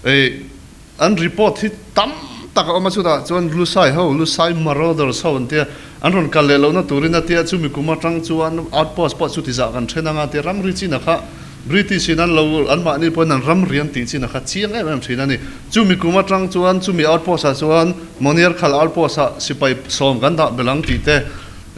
An report hi tam tak a awm a, chutah chuan Lusai ho, Lusai marauders ho an tia, an rawn kal leh lohna turin a tia, chumi kum atang chuan outpost pawh chutizah kan then anga tia, rangri chinah kha British in an lo, anmahni pawhin an ram rian tih chinah kha chiang em em thin a ni. Chumi kum atang chuan chumi outpost ah chuan Monier khal outpost ah sipai sawm kan dah belh ang tih te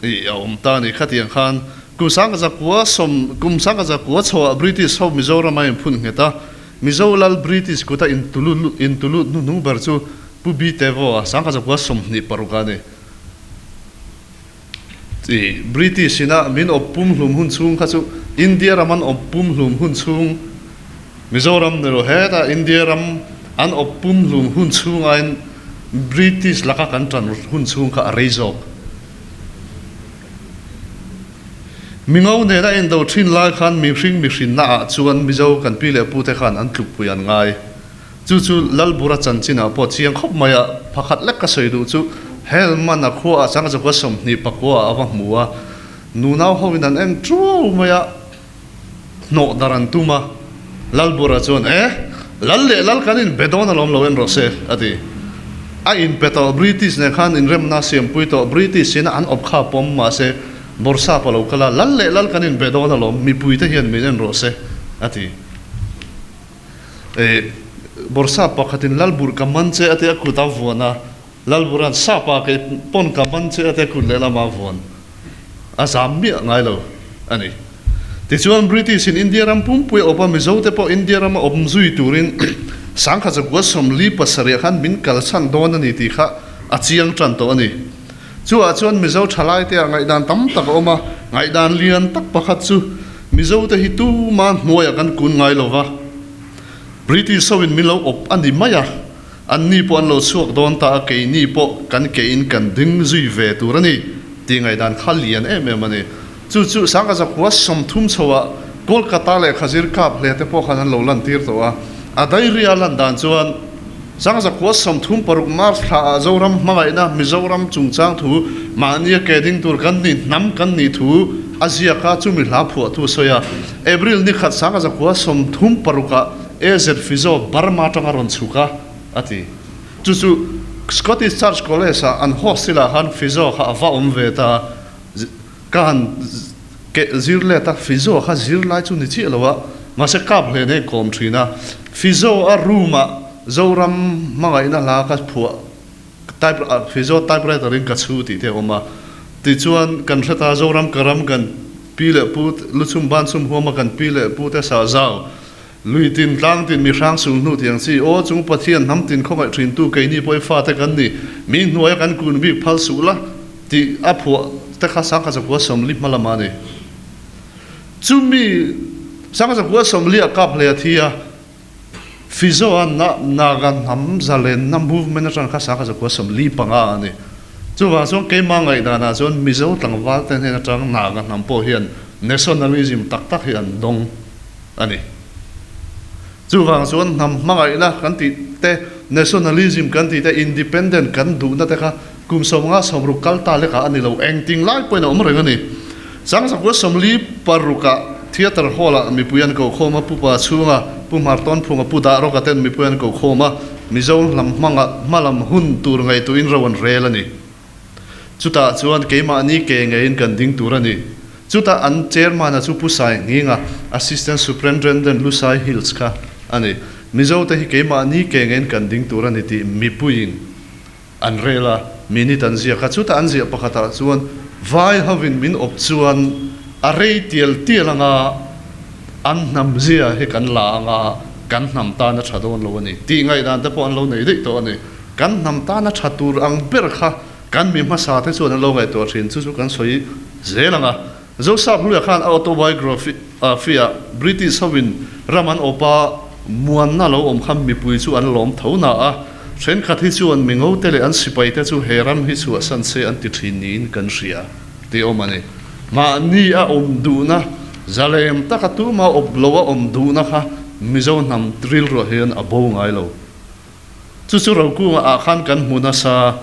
a awm ta a ni, khatiang khan Kum sangka zakua sawm kum sangka zakua chhoah British ho Mizoram a inphun nghet a, Mizo lal British kuta intulut hnuhnung ber chu Pu Bi Tevo a sangka zakua sawmhnih paruk a ni. British ina min awp pum hlum hun chhung kha chu India ram an awp pum hlum hun chhung Mizoram ni lo heta India ram an awp pum hlum hun chhung aiin British laka kan tan hun chhung kha a rei zawk. Mingo nen a indo thin lai khan mihring mihrinna ah chuan Mizo kan pi leh pu te khan an tlukpui an ngai. Chu chu Lalbura chanchin ah pawh chiang khawp mai a, pakhat lek ka sawi duh chu Helman a khua ah chang Zokhua sawmhnih pakua ah a va hmu a, nunau ho in an eng ṭuau mai a. hnawh dar an tum a. Lalbura chuan, E! Lal leh lal kan inbe dawn alawm lo en rawh se, a ti. A inpe tawh, British nen khan inremna siampui tawh, British sina an awp kha pawm mah se, Bawrhsap a lo kal a, lal leh lal kan inbe dawn alawm, mipui te hian min en rawh se, a ti. E! Bawrhsap pakhatin Lalbur ka man che, a ti a, kut a vuan a. Lalburan sapa kei pawn ka man che ate kut leh lama vuan a zam miah ngai lo a ni. Tichuan British in India ram pumpui a awp a, Mizo te pawh India ram a awp zui turin Sangkha Chakua Sawmli pasarih khan min kalsan dawn a ni tih kha a chiang tan tawh a ni. Chuah chuan Mizo thalai te ah ngaihdan tam tak a awm a, ngaihdan lian tak pakhat chu Mizo te hi tuma hnuai ah kan kun ngai lo va, British ho in min lo awp a ni mai a. Anni pawh an lo chhuak dawn ta a, keini pawh kan keiin kan ding zui ve tur a ni tih ngaihdan kha lian em em a ni. Chu chu Sangkazakhua sawmthum chho ah Kolkata leh Khazir kap hle te pawh khan an lo lantir tawh a. A diary a lan dan chuan Sangkazakhua sawmthum paruk March thla ah Zoram hmangaihna Mizoram chungchang thu mahni a ke ding tur kan nih hnam kan nih thu a ziak a, chumi hla phuah thu a sawi a. April nikhat Sangkazakhua sawmthum paruk ah AZ Fizo Burma tanga rawn chhuk a, a ti. Chu chu Scottish Church College-ah an host sila khan Fizo kha a va awm ve ta a, ka han keh zir let a, Fizo kha zir lai chu ni chiah lo a, mahse kap hle nei kawm thin a. Fizo-a room-ah Zoram hmangaihna hla ka phuah, type, Fizo typewriter-in ka chhu tih te a awm a. Tichuan kan hre ta, Zoram ka ram kan pi leh pu, luchhum banchhum huama kan pi leh pu te sahzau, Lui tin, tlang tin, mi hrang sum hnu tiang chi. Aw, chung Pathian hnam tin khawngaih thintu keini pawi fate kan ni. Mi hnuaia kan kun bik phal suh la, tih a phuah te kha Sangkhazakuwa Sawmli hma lamah a ni. Chumi Sangkhazakuwa Sawmli a kap hlei a thi a, Fizo a nah Naga hnam zalenna movement atang kha Sangkhazakuwa Sawmli panga a ni. Chuvang chuan keimah ngaihdanah chuan Mizo tlangvalte hnen atang Naga hnam pawh hian nationalism tak tak hi an dawng. a ni. Chuvang chuan hnam hmangaihna kan tih te, nationalism kan tih te, independent kan duhna te kha kum sawmnga sawmruk kal ta lekah a ni lo, engting lai pawhin a awm reng a ni. Sangsakhua Sawmli parukah theatre hall ah mipui an kohkhawm a, Pu Pa Chhunga, Pu Hmartawn Phunga, Pu Dah Rawka ten mipui an kohkhawm a, Mizo hlam hmanga hma lam hun tur ngaihtuin ro an rel a ni. Chutah chuan keimahni ke ngeiin kan ding tur a ni. Chutah an Chairman-a chu Pu Sai Nginga, Assistant Superintendent Lu Sai Hills kha a ni. Mizote hi keimahni ke ngeiin kan ding tur a ni tih mipuiin an rel a, minute an ziak a. Chutah an ziah pakhatah chuan vai hovin min awp chuan a rei tial tial anga an hnam zia hi kan la anga kan hnam tana tha dawn lo a ni tih ngaihdan te pawh an lo nei daih tawh a ni. Kan hnam tana tha tur ang ber kha kan mi hmasa te chuan an lo ngaihtuah thin chu chu kan sawi zel ang a. Josap Luya khan a autobiography ah British hoin ram an awp a, muanna lo awm kha mipui chu an lawm tho hna a, thenkhat hi chuan Mingo te leh an sipai te chu he ram hi chhuahsan se an ti thin niin kan hria tih awm a ni. Mahni a awm duhna zalem taka tumah awp loh a awm duhna kha Mizo hnam rilruah hian a bo ngai lo. Chu chu Rokung ah khan kan hmu nasa.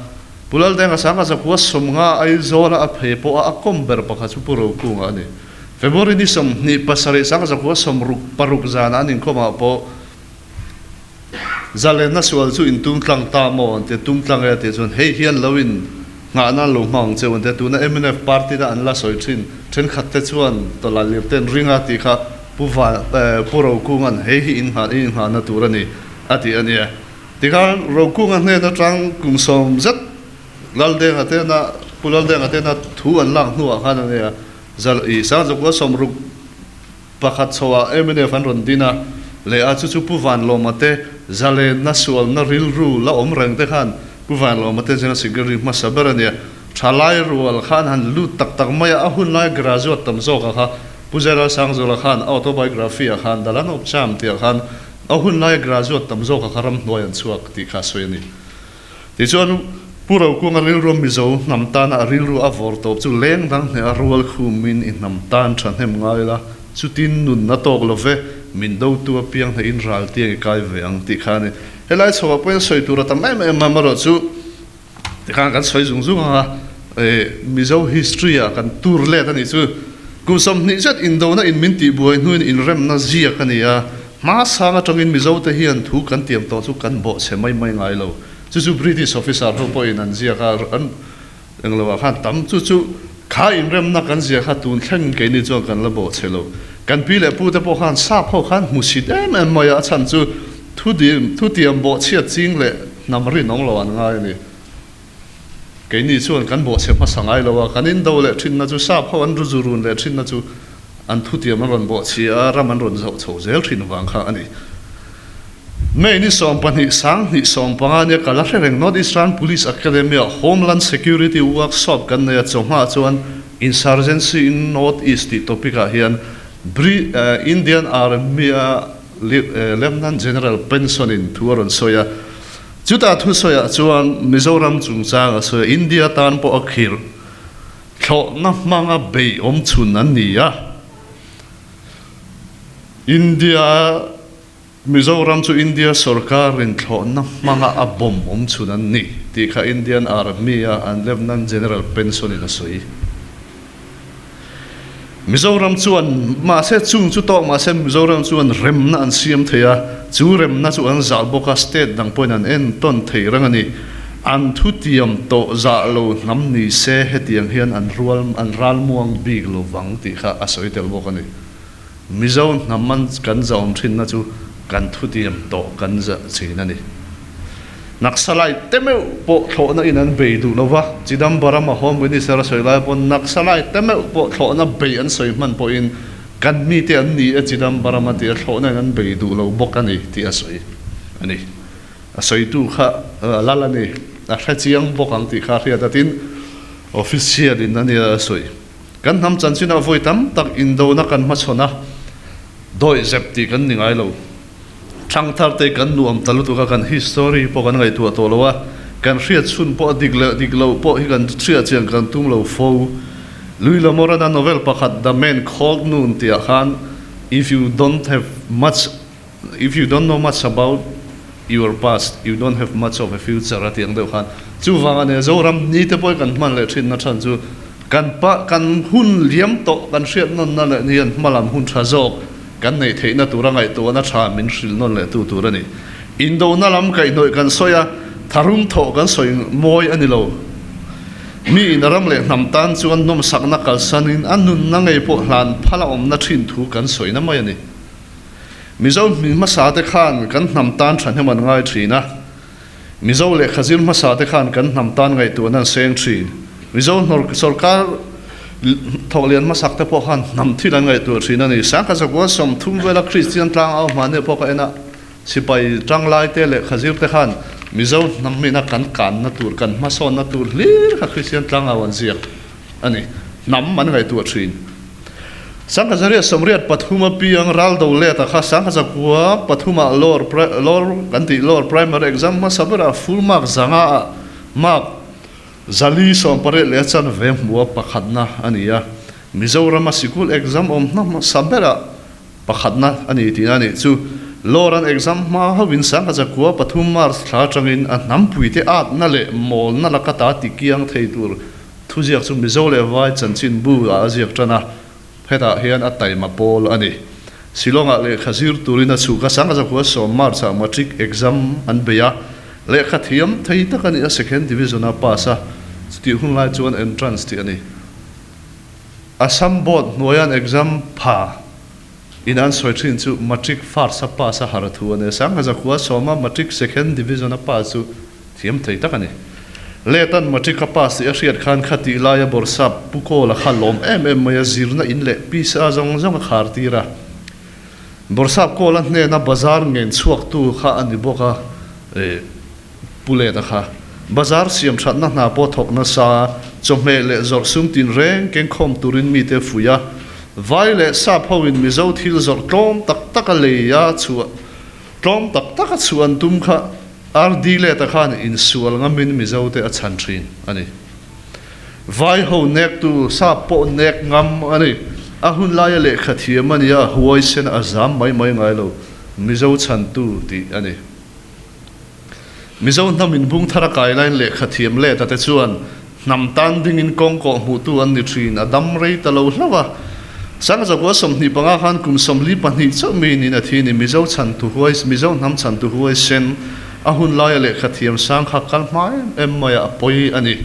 Pulaldenga sanga zakhua sawmnga Aizawla a phei pawha a kawm ber pakhat chu Pu Rokung a ni. February ni sawm hnih pasarih sanga zakhua sawm ruk paruk zanah an inkhawm ah pawh Zalenna sual chu in tumtlang ta maw an ti a, tumtlang e a ti chuan hei hian lo in Nghah nan lo nghawng che awmte tuna mnf party na an la sawi thin thenkhat te chuan tawlaiah lir ten ring a tih kha Pu Van eh Pu Rokunga'n hei hi in nghah in nghah na tur a ni a tih a nia. Tikhan Rokunga hnen atang kum sawm zet Laldenga te na Pu Laldenga te na thu an lak hnuah khan a nia Zalo ih Sangzawkua sawmruk Pakhat chhoah MNF an rawn din a, leh a chu chu Pu Vanlawma te zalenna sualna rilru la awm reng te khan Pu Vanlawma te General Secretary hmasa ber a nia. Tha lai rual khan han lut tak tak mai a, a hun lai graduate tam zawk a kha Pu Zailal Sangzula khan autobiography a khan dal an awp cham tih ah khan a hun lai graduate tam zawk a kha ram hnuai an chhuak tih kha a sawi a ni. Tichuan, Pu Rokuanga rilru Mizo hnam tana a rilru a vawr tawp chu leng dang hneh a rual khumin i hnam tan thahnem ngai la, chutin nunna tawk lo ve, min do tu apiang hnehin ral tiang i kai ve ang tih kha a ni. Helai chhoah pawhin sawi tur a tam em em a, marawh chu tikhan kan sawi zung zung anga Mizo history-a kan tur let a nih chu. Kum sawmhnih zet indona in min tihbuai hnuin inremna ziak a ni a. Hmasan atangin Mizote hian thu kan tiam tawh chu kan bawh chhe mai mai ngai lo. Chu chu British officer ho pawhin an ziak a, an englo ah khan tam chu chu kha inremna kan ziak kha tun thlengin keini chuan kan la bawh chhe lo. Kan pi leh pu te pawh khan sap ho khan hmu chhit em em mai a, a chhan chu thu tiam bawh chhiat ching leh hnam rinawm lo an ngai a ni. Keini chuan kan bawhchhe hmasa ngai lo a, kan indo leh thinna chu sap ho an ru zu run leh thinna chu an thutiam an rawn bawhchhi a, ram an rawn zauh chho zel thin vang kha a ni. May ni sawm pahnih sang hnih sawm panga nia ka la hre reng North East Ram Police Academy ah Homeland Security Workshop kan nei a, chawhma chuan Insurgency in North East tih topic ah hian Bri eh Indian Army a Lieu eh Lieutenant General Penson in thu a rawn sawi a. Chutah thusawiah chuan Mizoram chungchanga sawi a, India tan pawh a khir thlawhna hmanga beih awmchhun an ni a. India, Mizoram chu India sorkarin thlawhna hmanga a bawm awmchhun an ni tih kha Indian Army-a an Lieutenant General Penson-in a sawi. Mizoram chuan mahse chung chu tawk mahse Mizoram chuan remna an siam thei a, chu remna chu an zah bawk a, state dang pawhin an en tawn thei rang a ni. An thutiam tawh zah lo hnam ni se hetiang hian an rual an ral muang bik lo vang tih kha a sawi tel bawk a ni. Mizo hnam an kan zawm thinna chu kan thutiam tawh kan za thin a ni. Naxalite te meuh pawh thlawhna in an bei duh lo va, Chidambaram a Home Minister a sawi lai pawn Naxalite te meuh pawh thlawhna bei an sawi hman pawhin kan mite an ni a Chidambaram a tia thlawhna in an bei duh lo bawk a ni tih a sawi a ni. A sawitu kha a lal a ni, a hre chiang bawk ang tih kha a hriat a tin official in a nia a sawi. Kan hnam chanchinah vawi tam tak indona kan hmachhawn a, dawih zep tih kan ni ngai lo. Thangthar te kan nuam ta lutuk a, kan history hi pawh kan ngaihtuah tawh lo a, kan hriatchhun pawh a dik leh a dik loh pawh hi kan hria chian kan tum lo fo. Lui La Morena novel pakhat The Man Called Noon tihah khan, If you don't have much, If you don't know much about your past, you don't have much of a future a tih ang deuh khan. Chuvang a nia, Zoram ni te pawhin kan hman leh thin na than chu kan pah, kan hun liam tawh, kan hriat nawn na leh ni an hmalam hun tha zawk kan neih theih na tura ngaihtuah na tha min hril nawn leh tu tur a ni. Indo na lam kaihnawih kan sawi a, tharum thawh kan sawi mawi a ni lo. Mi in ram leh hnam tan chuan nawmsak na kalsan in a nun na ngei pawh hlan phal a awm na thin thu kan sawi na mai a ni. Mizo hmin hmasate khan kan hnam tan thahnem an ngai thin a, Mizo lehkha zir hmasate khan kan hnam tan ngaihtuahna an seng thin. Mizo sorkar thawk lian hmasak te pawh khan hnam thil an ngaihtuah thin a ni. Sangha Zakuan sawm thum vela Kristian tlang au hmahnih a pawk a en a, sipai tanglai te lehkha zir te khan Mizo hnam hmina kan kanna tur, kan hmasawnna tur hlir kha Kristian tlang au an ziak. a ni. Hnam an ngaihtuah thin. Sanghazaria sawmriat pathum apiang ral do leta kha Sanghazakhua pathuma lower lower kan tih lower primary exam hmasa bera full mark zanga a mark zali sawmpariat leh a chanve hmuha pakhatna a ni a, Mizorama sikul exam awm hmasa bera pakhatna a ni tihna a nih chu. Lower an exam hma hoin Sanghazakhua pathum March thla atangin a hnampuite atna leh mawlna laka ta tikiang thei tur Thuziak chu Mizo leh Vai chanchin bu ah a ziak tan a, hetah hian a taima pawl a ni. Shillong ah lehkha zir turin a chhuka sang a zakhua sawm, March, ah Matric exam an bei a, lehkha thiam thei tak a nih a, Second Division a pass a, chutih hun lai chuan Entrance tih a ni. Assam Board hnuaian exam pha in an sawi thin chu Matric First a pass a, Harathu a ni a, Sangha zakhua sawma Matric Second Division a pass chu, Thiam thei tak a ni. Letan matric a pass tih a hriat khan kha tih laia borsap pu Kawla kha lawm em em mai a, zirna in leh piece a zawng zawng a khar tir a. Borsap Kawla hnena bazar ngen chhuak tu kha a ni bawk a Pu Leta kha. Bazar siam thatna hna pawh thawk nasa a, chawhmeh leh zawrh sum tinreng keng khawm turin mite fuih a, vai leh sap ho in Mizo thil zawrh tlawm tak tak a lei a chhuah tlawm tak tak a chhuah an tum kha Ardilet-a khan insual ngamin Mizote a chhan thin a ni. Vaiho nektu sa pawh nek ngam a ni. A hunlaia lehkha thiam a nia, huaisen a zam mai mai ngai lo, Mizo chhantu tih a ni. Mizo hnam inbung thar a kai lain lehkha thiam let-a te chuan Hnam tan dingin kawng kawh hmuhtu an ni thin, a dam rei ta lo hlauh a. Sangzakua sawmhnih panga khan kum sawmli pahnih chauh mai niin a thi ni, Mizo chhantu huai, Mizo hnam chhantu huai sen, a hun laia lehkha thiamsang kha kal hma em em maia a pawi a ni.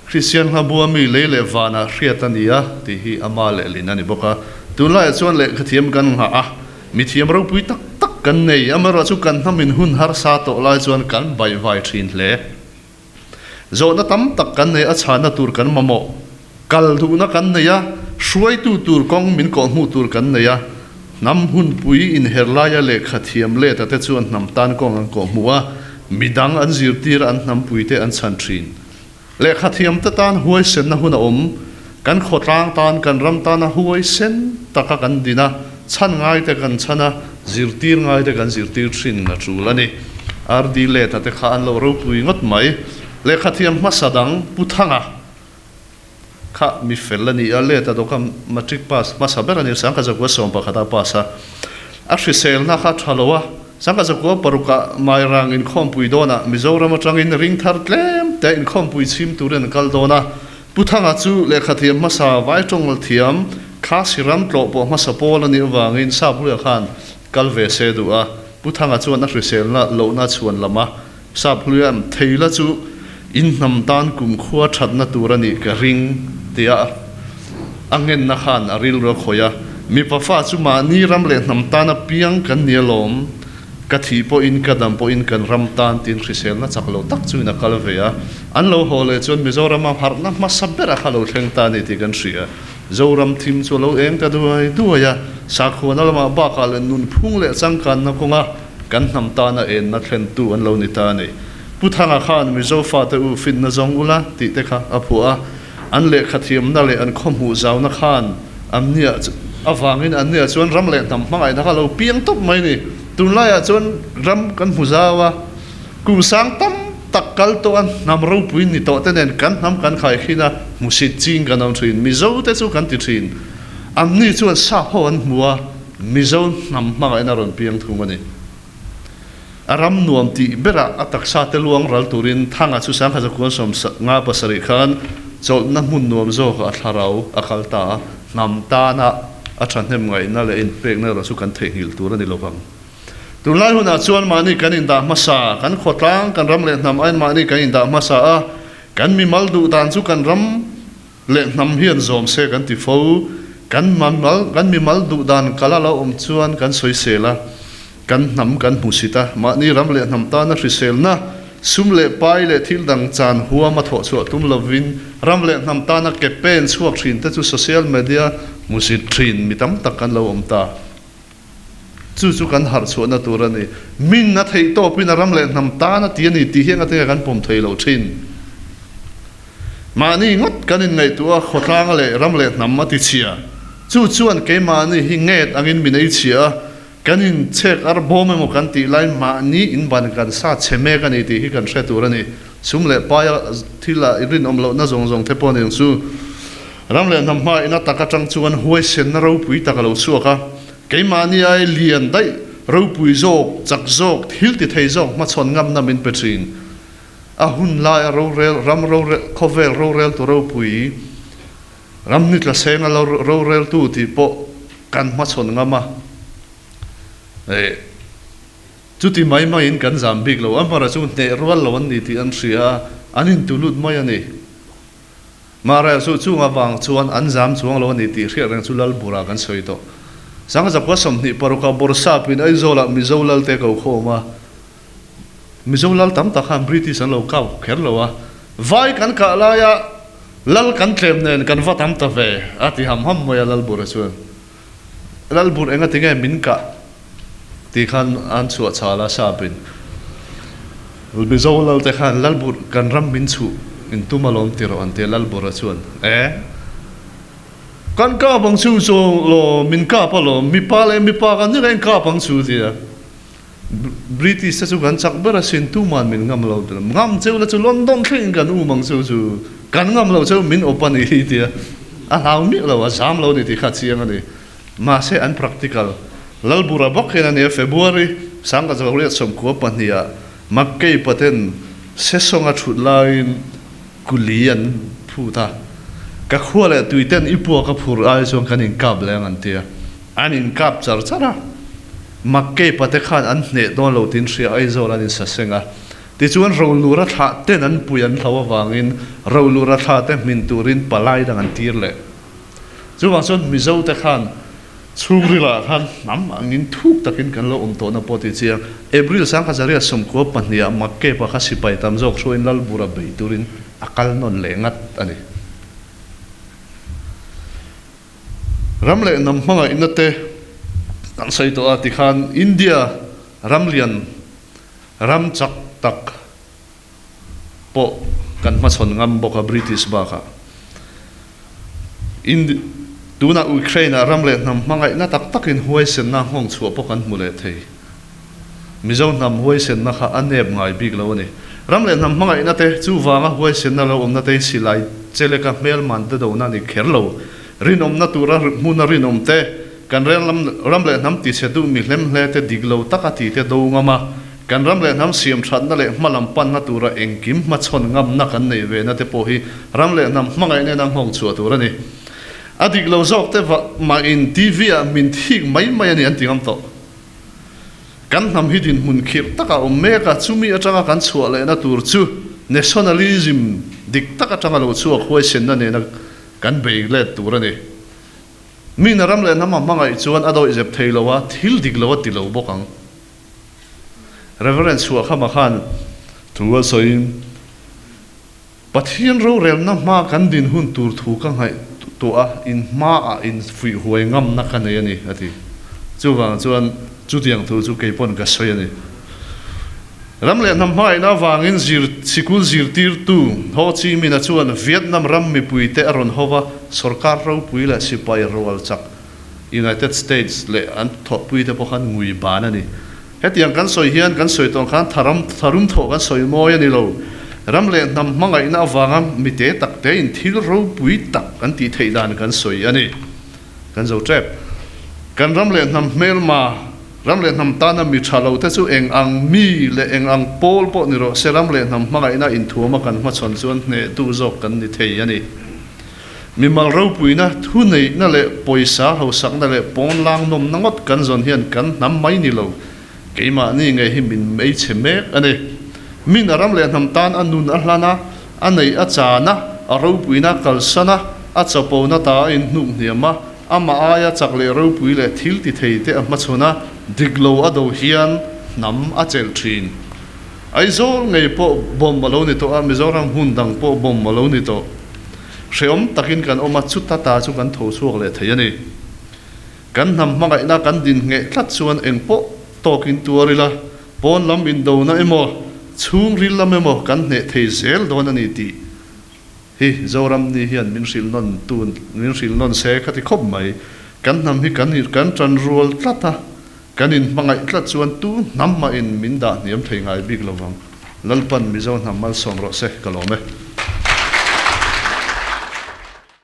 Kristian kha bua mi lei leh vanah hriat a nia tih hi a ma leh lin a ni bawk a. Tunlaiah chuan lehkha thiam kan nghah a, mithiam ropui tak tak kan nei, amaherawhchu kan hnam in hun harsa tawh lai chuan kan baihvai thin hle. Zawhna tam tak kan nei a, chhahna tur kan mamawh, kal duhna kan nei a, hruaitu tur kawng min kawh hmuh tur kan nei a, hnam hunpui inher laia lehkha thiam leta te chuan hnam tan kawng an kawh hmu a, midang an zirtir a, an hnampuite an chhan thin. Lehkha thiam te tan huaisenna huna awm. Kan khawtlang tan, kan ram tana huai sen taka kan din a, chhan ngaite kan chhan a, zirtir ngaite kan zirtir thin a tul a ni. RD Leta te kha an lo ropui ngawt mai. Lehkhathiam hmasa dang Pu Thanga kha mi fel a ni a, Leta dawka Matric pass hmasa ber a ni a, Sangkazakua sawm pakhata pass a. A hriselna kha tha lo a, Sangkazakua paruka Mairang inkhawmpui dawnah Mizoram atangin ring thar tlem te inkhawmpui chhim turin an kal dawn a. Pu Thanga chu lehkhathiam hmasa vai tawngal thiam, class i ram tlawh pawh hmasa pawl a nih avangin Sapruia khan kal ve se duh a, Pu Thanga chuan a hriselna lohna chhuan lam a, Sapruia'n thei la chu inhnam tan kumkhua thatna tur a nih ka ring tia a ngenna khan a rilru a khawih a, Mipa fa chu mahni ram leh hnam tana piang kan ni alawm, Ka thih pawhin, ka dam pawhin kan ram tan tiin hrisel na chak lo tak chu in a kal ve a, an lo haw leh chuan Mizorama harhna hmasa berah kha lo thleng ta ni tih kan hria a, Zoram thim chu a lo eng ta duai duai a, sakhuana lamah bakah leh nunphung leh changkanna kawnga kan hnam tana enna thlentu an lo ni ta ni. Pu Thanga khan Mizo fate u finna zawng ula tih te kha a phuah a, An lehkha thiamna leh an khawhmuh zauhna khan an nia avangin an nia chuan ram leh hnam hmangaihna kha lo piang tawp mai a ni. Tunlaiah chuan ram kan hmu zau a, kum sang tam tak kal tawh a, hnam ropui ni tawhte nen kan hnam kan khaikhin a, hmusit ching kan awm thin. Mizo te chu kan ti thin anni chuan sakho an hmu a, Mizo hnam hmangaihna rawn piang thung a ni. A ram nuam tih berah a taksa te luang ral turin thanga chu Sangha Zakuan sawm nga pasarih khan chawlhna hmun nuam zawka a thlarau a kal ta a. Hnam tana a thahnem ngaihna leh inpekna erawh chu kan theihnghilh tur a ni lo vang. Tunlai hunah chuan mahni kan indah hmasa, kan khawtlang, kan ram leh hnam a enmahni kan indah hmasa a, kan mimal duh dan chu kan ram, Leh hnam hian zawm se kan ti fo. Kan kan mimal duh dan kal a lo awm chuan kan sawisel a, kan hnam kan hmu sit a. Mahni ram leh hnam tana hriselna, sum leh pai leh thil dang chan huam a thawh chhuah tum lovin ram leh hnam tana campaign chhuak thinte chu social media hmu sit thin mi tam tak kan lo awm ta. Chu chu kan harh chhuahna tur a ni. Min a theih tawpin a ram leh hnam tan a ti a ni tih hi engatin ka kan pawm thei lo thin. Mahni ngawt kan inngaihtuah a, khawtlang a leh ram leh hnam a tichhia. Chu chuan keimahni hi nget angin min ei chhia a, kan inchhek ar bawm emaw kan tih lai mahni in ban kan sa chhe mek a ni tih hi kan hre tur a ni. Sum leh paia thil a rinawm lohna zawng zawng te pawh a ni ang chu. Ram leh hnam hma in a tak atang chuan huaisenna ropui tak a lo chhuak a, keimahniai lian daih ropui zawk, chak zawk, thil ti thei zawk hmachhawn ngamna min pe thin. A hun laia rorel, ram rorel, khawvel rorel tu ropui, ram hnitla senga rorel tu tih pawh kan hmachhawn ngam a, eh, chuti mai mai in kan zam bik lo. Amhara chu hneh rual lo an ni tih an hria a, an intulut mai a ni. Mah rel chu chung avang chuan an zam chuang lo a ni tih hriat reng chu lal burah kan sawi tawh. Sang zakua sawmhnih parukah Bawrhsap in Aizawlah Mizo lal te ko khawm a. Mizo lal tam tak khan British an lo kap kher lo a. Vai kan kah laia lal kan tlem nen kan va tam ta ve a ti ham ham mai a lal bura chuan. Lalbur enga tinge min kah? tih khan an chhuah chhal a Sapin. Mizo lalte khan Lalbur kan ram min chhuh in tum alawm ti rawh an ti a, Lalbura chuan Eeh! Kan kap ang chu zawng law min kap alawm, mipa leh mipa kan nih loh in kap ang chu a ti a. British te chu kan chak ber a sin tu man min ngam lo ber. Ngam cheu la chu London thleng in kan um ang cheu chu kan ngam lo cheu min awp a ni hi tia a hlau miah lo a zam lo ni tih kha a chiang a ni. Mahse an practical Lalbura bawk hian a nia February Sangha Zawriat sawmkhua pahnih ah Makkeipathen sesawng a thut laiin, Kuli an phut a, ka khua leh tui ten i puak a phur ai chuan kan in kap leng an tia, an in kap char char a, mak keipa te khan an hneh dawn lo tin hria Aizawl an in sa seng a, tichuan rolura thla ten an pui an hlau avangin rolura thla te hmin turin palai dang an tir leh. Chuvang chuan Mizo te khan chhungrila khan hnam angin thuk takin kan lo awm tawhna pawh tichiang April sang kha Zariat sawmkua pahniha mak kep-a kha sipai tam zawk hruain lal bura beih turin a kal nawn leh ngat a ni. Ram leh nam hmanga ina te kan sawi tawh a tikhan India ramlian ramchak tak, pawh kan hmachhawn ngam bawk a British bakah. Ind. Tunah Ukraine-ah ram leh hnam hmangaihna tak takin huaisenna nghawng chhuah pawh kan hmu leh thei. Mizo hnam huaisenna kha a nep ngai bik lo a ni. Ram leh hnam hmangaihna te, chuvanga huaisenna lo awmna te, silai che leka hmelman te dona a ni kher lo. Rinawmna tura hmuna rinawm te, kan rel ram leh hnam tihchhe duh mi hlemhle te dik lo taka tite do ngam a, Kan ram leh hnam siam thatna leh hma lam panna tura engkim hmachhawn ngamna kan neih ve na te pawh hi ram leh hnam hmangaih nena nghawng chhuah tur a ni. A dik lo zawk te vah mahin TV ah min thik mai mai a ni an ti ngam tawh. Kan hnam hi dinhmun khirh taka awm mek a, chumi atanga kan chhuah lehna tur chu nationalism dik tak atanga lo chhuak huaisenna nena kan bei let tur a ni. Mina ram leh hnam a hmangaih chuan a dawihzep thei loh a, thil dik lo a ti lo bawk ang. Reverend Suakhama khan thu a sawiin, Pathian rorelna hma kan dinhun tur thu ka ngaih tawh a, in hmaah in fuihhuai ngamna ka nei a ni, a ti. Chuvang chuan chutiang thu chu kei pawn ka sawi a ni. Ram leh hnam hmain avangin zir sikul zirtirtu Ho Chi Minha chuan Vietnam ram mipuite a rawn ho a, sorkar ropui leh sipai rualchak, United States leh an thawhpui te pawh khan ngui ban a ni. Hetiang kan sawi hian kan sawi tawh khan tharam tharum thawh kan sawi mawi a ni lo. Ram leh hnam hmangaihna avanga mi te tak te in thil ropui tak kan tih theih dan kan sawi a ni. Kan zo tep. Kan ram leh hnam hmelma, ram leh hnam tana mi tha lo te chu eng ang mi leh eng ang pawl pawh ni rawh se ram leh hnam hmangaihna inthuama kan hmachhawn chuan hnehtu zawk kan ni thei a ni. Mimal ropuina, thu neihna leh pawisa hlosakna leh pawnlang nawmna ngawt kan zawn hian kan hnam mai ni lo. Keimahni ngei hi min ei chhe mek a ni. Min a ram leh hnam tan a nun a hlan a, a neih a chan a, a ropuina a kalsan a, a chapona ta a inhnuk hniam a, ama aia chak leh ropui leh thil ti thei te a hmachhawn a, dik lo a do hian hnam a chelh thin. Aizawl ngei pawh bomb a lo ni tawh a, Mizoram hun dang pawh bomb a lo ni tawh. Hrehawm takin kan awm a, chuta ta chu kan tho chhuak leh thei a ni. Kan hnam hmangaihna kan din ngheh tlat chuan eng pawh tawkin tuar ila, pawn lam indona emaw, chhungril lam emaw kan hneh thei zel dawn a ni tih Hi Zoramni hian min hrilh nawn tu min hrilh nawn se kha ti khawp mai. Kan hnam hi kan in kan tan rual tlat a, kan in hmangaih tlat chuan tu hnam mah in min dah hniam thei ngai bik lo vang. Lalpan Mizo hnam malsawm rawh se ka lawm e.